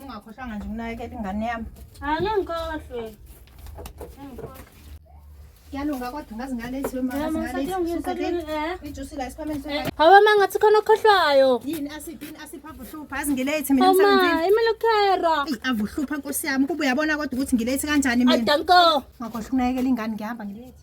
Ungakhohlwanga nje ukunakekela ingane yami. Angeke ngikhohlwe. Kuyalunga kodwa ngazi ngalezi ijusi la esikhwameni sokho. Hawu mama ngathi khona okhohlwayo. Yini asiphi yini asiphi avuhlupha azi ngilethi mina emsebenzini. Mama imele ukhera. Avuhlupha nkosi yami kuba uyabona kodwa ukuthi ngilethi kanjani mina. Adanko. Ngakhohlwa ukunakekela ingane ngihamba ngilethi.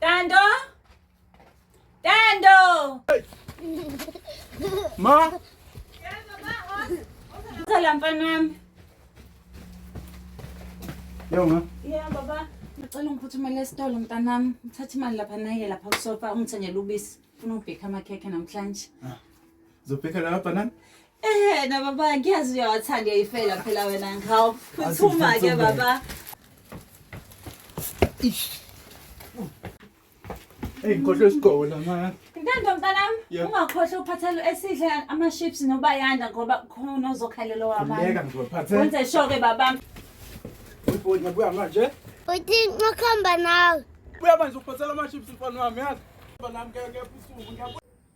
Tando? Tando! Ma? Sala mfana wami. Yo ma. Yeah baba. Ngicela ungiphuthumelele esitolo mntanami. Uthatha imali lapha naye lapha kusofa ungithengele ubisi. Funa ubheka amakhekhe namhlanje. Zophekela lapha nani? Ehhe na baba ngiyazi uyawathanda uyayifela phela wena nghawu. Phuthuma ke baba. Hey ngikhohlwe isigqoko la mama. Ntando mntanami Yeah. ungakhohlwa ukuphathela esidle ama-ships nobayanda ngoba khona ozokhalelwa wabanye. Ngiyeka ngizophathe. Wenze sho-ke baba. Uyibhodi ngiyabuya manje. Uthi ngikhamba nawe. Buya manje ukuphathela ama-chips mfana wami yazi. Bana ngeke usuku ngiyabuya.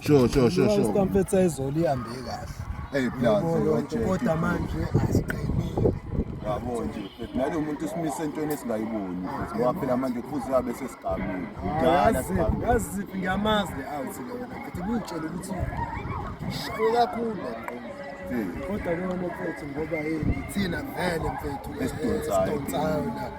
Sure, sure, sure, sure. Istampetsa izolo ihambe kahle. Hey plus wajeke. Kodwa manje asiqinile. Yabo nje. Nalo muntu simise entweni esingayiboni. Ngoba phela manje kufuze abe sesigamile. Dala sigamile. Yazi ngiyamazi out lona. Futhi kuyitshela ukuthi shaya kakhulu kodwa lona mfethu ngoba yini thina vele mfethu esidonsayo la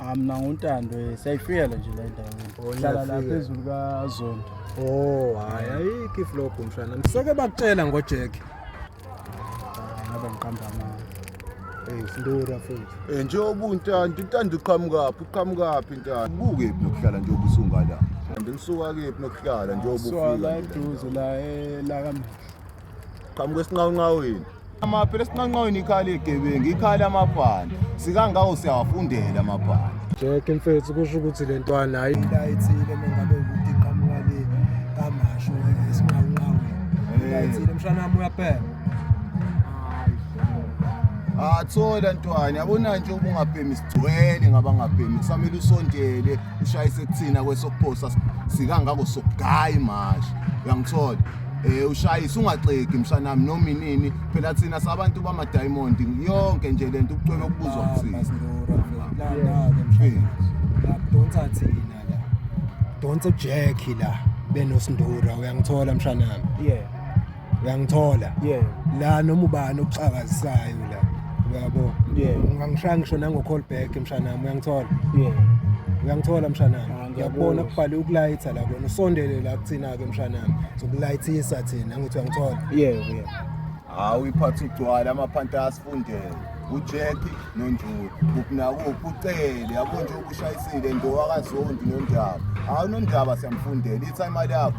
Ah, mina nguntando eh, siyayifikela nje la endaweni Oh, hlala la niyafika. phezulu kazondo Oh, hayi ayikho iflogo mshana. Seke bakutshela ngoJack. ngaba ngiqamba amanga Eh, sindura futhi. Eh, njengoba untanda untanda uqhamukaphi uqhamukaphi intanda buke phi nokuhlala njengoba usungala kanti ngisuka kephi nokuhlala njengoba so la ufika eduze la eh, la kamehlo qhamuka esinqawunqawini amaphela esinqanqawini ikhali egebengu ikhali amabhande sikangawo siyawafundela amabhande jeke mfethu kusho ukuthi le ntwana hayi ithile mengabe ukuthi iqhamuka le kamasho esinqawunqawini eh. ithile mshana wami uyaphela athola ntwana yabona nje uba ungabhemi sigcwele ngabangabhemi kusamele usondele ushayise kuthina kwesokuphosa sikangako sokugayi mashi uyangithola Eh ushayisa ungaxeki mshanami noma inini phela thina sabantu bama diamond yonke nje lento ukucwebe ukubuzwa kuthina. Donsa thina la. Donsa Jack la benosindura uyangithola mshanami. Yeah. Uyangithola. Yeah. La noma ubani oxakazisayo la. Uyabo? Yeah. Ungangishaya ngisho nango call back mshanami uyangithola. Yeah. Uyangithola mshanami. ngiyakubona kubhale ukulayitha la kona usondele la kuthina-ke mshanami zokulayithisa thina angithi uyangithola yebo yebo hawu iphatha ugcwala amaphanta asifundele ujeki nonjulu kukunakuphi ucele yabo nje ukushayisile ndowakazondi nondaba hawu nondaba siyamfundela itha imali yakho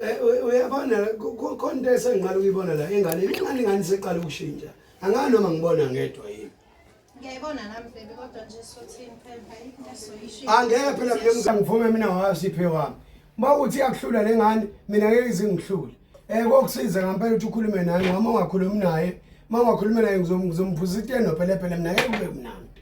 Eh, uyabona khona into esengiqala ukuyibona la ingane ingane ingane seqala ukushintsha angani noma ngibona ngedwa yini ngiyayibona nami baby kodwa nje sothini phela into esoyishintsha angeke phela mina ngivume mina ngawasiphe wami uma uthi akuhlula le ngane mina ngeke izingihlule um kokusiza ngampela ukuthi ukhulume nami wama ungakhulumi naye uma ungakhulumi naye ngizomphuziteno phela phela mina ngeke kube mnandi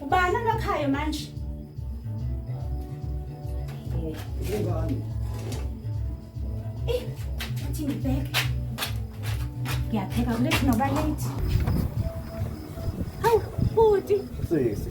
Ubani olokhayo manje? Ubani? Eh, athi ngibheke. Ngiyapheka kulethi noba late. Hawu, bhuti. Sisi.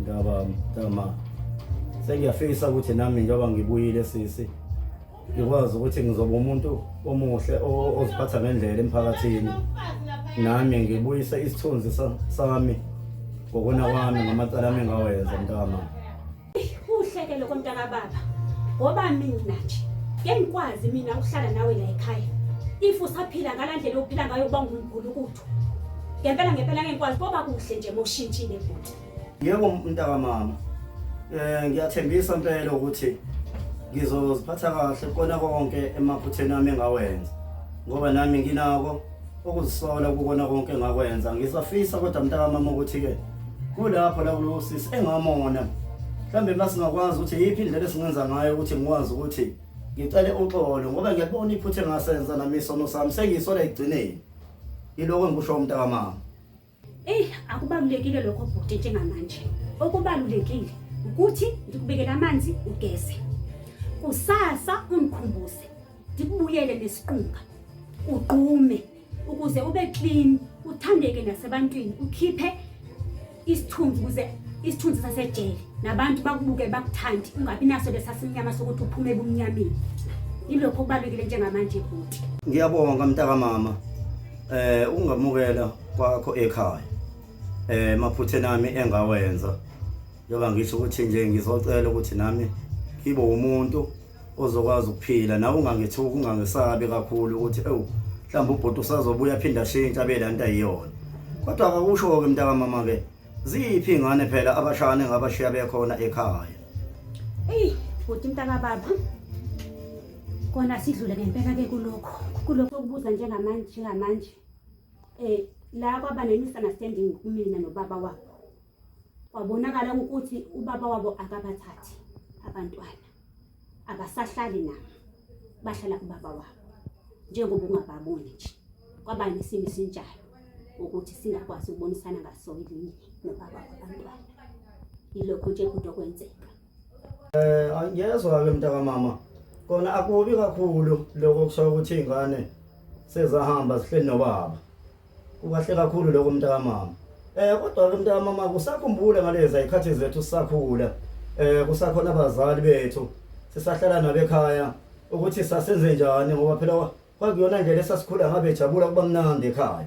Ndaba mtama sengiyafisa ukuthi nami njengoba ngibuyile sisi ngikwazi ukuthi ngizoba umuntu omuhle oziphatha ngendlela emphakathini nami ngibuyise isithunzi sami ngokona kwami ngamacala ami ngawenza mntama kuhleke lokho mntaka baba ngoba mina nje ke ngikwazi mina ukuhlala nawe la ekhaya if usaphila ngala ndlela ophila ngayo uba ngumgulukuthu ngempela ngempela ngekwazi koba kuhle nje moshintshile futhi Yebo mntakamama. Eh ngiyathembisa impela ukuthi ngizoziphatha kahle kona konke emaphutheni ami engawenza. Ngoba nami nginako ukuzisola kukona konke engakwenza. Ngisafisa kodwa mntakamama ukuthi ke kulapho la kulosisi engamona. Mhlambe masingakwazi ukuthi yiphi indlela esingenza ngayo ukuthi ngikwazi ukuthi ngicele uxolo ngoba ngiyabona iphutha engasenza nami isono sami sengisole ekugcineni. Iloko engikusho umntakamama. Eyi akubalulekile lokho bhuti njengamanje. Okubalulekile ukuthi ngikubekele amanzi ugeze. Kusasa ungikhumbuze ndikubuyele nesiqunga. Ugqume ukuze ube clean, uthandeke nasebantwini, ukhiphe isithunzi ukuze isithunzi sasejele nabantu bakubuke bakuthandi ungabi naso lesasimnyama sokuthi uphume ebumnyameni. Yilokho okubalulekile njengamanje bhuti. Ngiyabonga mntakamama. Eh ungamukela kwakho ekhaya eh maphuthe nami engawenza yoba ngisho ukuthi nje ngizocela ukuthi nami ngibe umuntu ozokwazi ukuphila nawe ungangethuki ungangesabi kakhulu ukuthi ewu mhlawumbe ubhuti usazobuya aphinde ashintshe abe la nto ayiyona kodwa akakusho-ke mntakamama-ke ziphi ingane phela abashane ngabashiya bekhona ekhaya eyi bhuti mntakababa kona sidlule ngempela-ke kulokho kulokho okubuza njengamanje njengamanje eh la kwaba ne-misunderstanding kumina nobaba wabo kwabonakala ukuthi ubaba wabo akabathathi abantwana abasahlali nabo bahlala kubaba wabo njengoba ungababoni nje kwaba nesimo esinjalo ukuthi singakwazi ukubonisana ngaso elinye nobaba wabantwana yilokho nje kude okwenzeka Eh angiyezwa ke mntaka mama. Kona akubi kakhulu lokho kusho ukuthi ingane sezahamba sihleli nobaba. Kukahle kakhulu lokho mntaka mama. Eh kodwa ke mntaka mama kusakhumbule ngalezi ayikhathi zethu sisakhula. Eh kusakhona abazali bethu sisahlala nabekhaya ukuthi sasenze njani ngoba phela kwakuyona ndlela esasikhula ngabe jabula kuba mnandi ekhaya.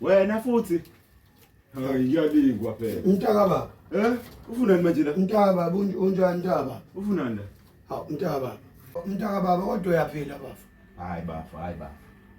Wena futhi. Hayi ngiyalingwa phela. Mtaka baba. Eh? Ufunani manje la? Mtaka baba unjani mtaka baba? Ufunani la? Ha mtaka baba. Mtaka baba kodwa uyaphila baba. Hayi baba, hayi baba.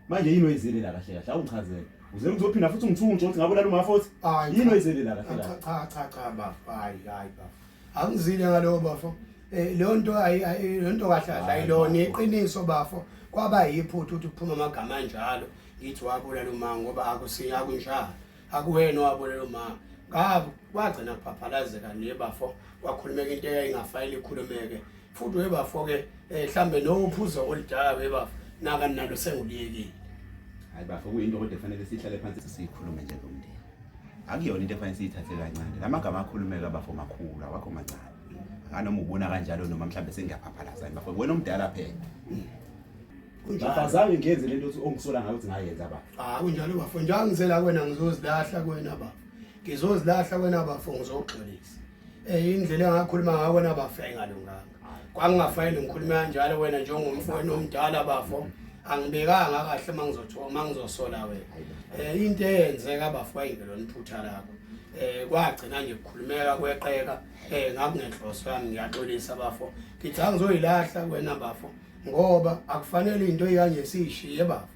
Manje yini oyizile la kahle kahle? Awungichazele. Uze ngizophinda futhi ngithunje ukuthi ngabulala umafothi. Yini oyizile la kahle kahle? Cha cha cha baba. Hayi hayi baba. angizile ngalowo bafo eh, leyo nto leyo nto kahle kahle ayilona iqiniso bafo kwaba yiphutha ukuthi kuphuma amagama anjalo ngithi wabulela umama ngoba akusiya kunjalo akuwena owabulela umama ngabo kwagcina kuphaphazeka nje bafo kwakhulumeka into eyayingafayile ikhulumeke futhi we bafo-ke um eh, mhlawumbe nowuphuzo oludala we bafo naka nalo senguliyekile hayi bafo kuyinto kodwa kufanele sihlale phansi siyikhulume njengomndeni akuyona into efanele siyithathe kancane la magama akhulumeka bafo makhulu awakho mancane anoma ubona kanjalo noma mhlawumbe sengiyaphaphalaza yini bafo wena omdala phela ngafazange ngenze lento othi ongisola ngayo ukuthi ngayenza bafo ah kunjalo bafo njalo ngizela kwena ngizozilahla kwena bafo ngizozilahla kwena bafo ngizogxolisa eh indlela engakhuluma ngayo kwena bafo ayingalunganga Kwangingafanele ngikhulume kanjalo wena njengomfowenu omdala bafo. Angibekanga kahle uma ngizothiwa uma ngizosola wena. Eh into eyenzeka bafo ayingelona iphutha lakho. Eh kwagcina nje kukhulumeka kweqeka eh ngakungenhloso yami ngiyaxolisa bafo. Ngithi angizoyilahla wena bafo ngoba akufanele into eyanje siyishiye bafo.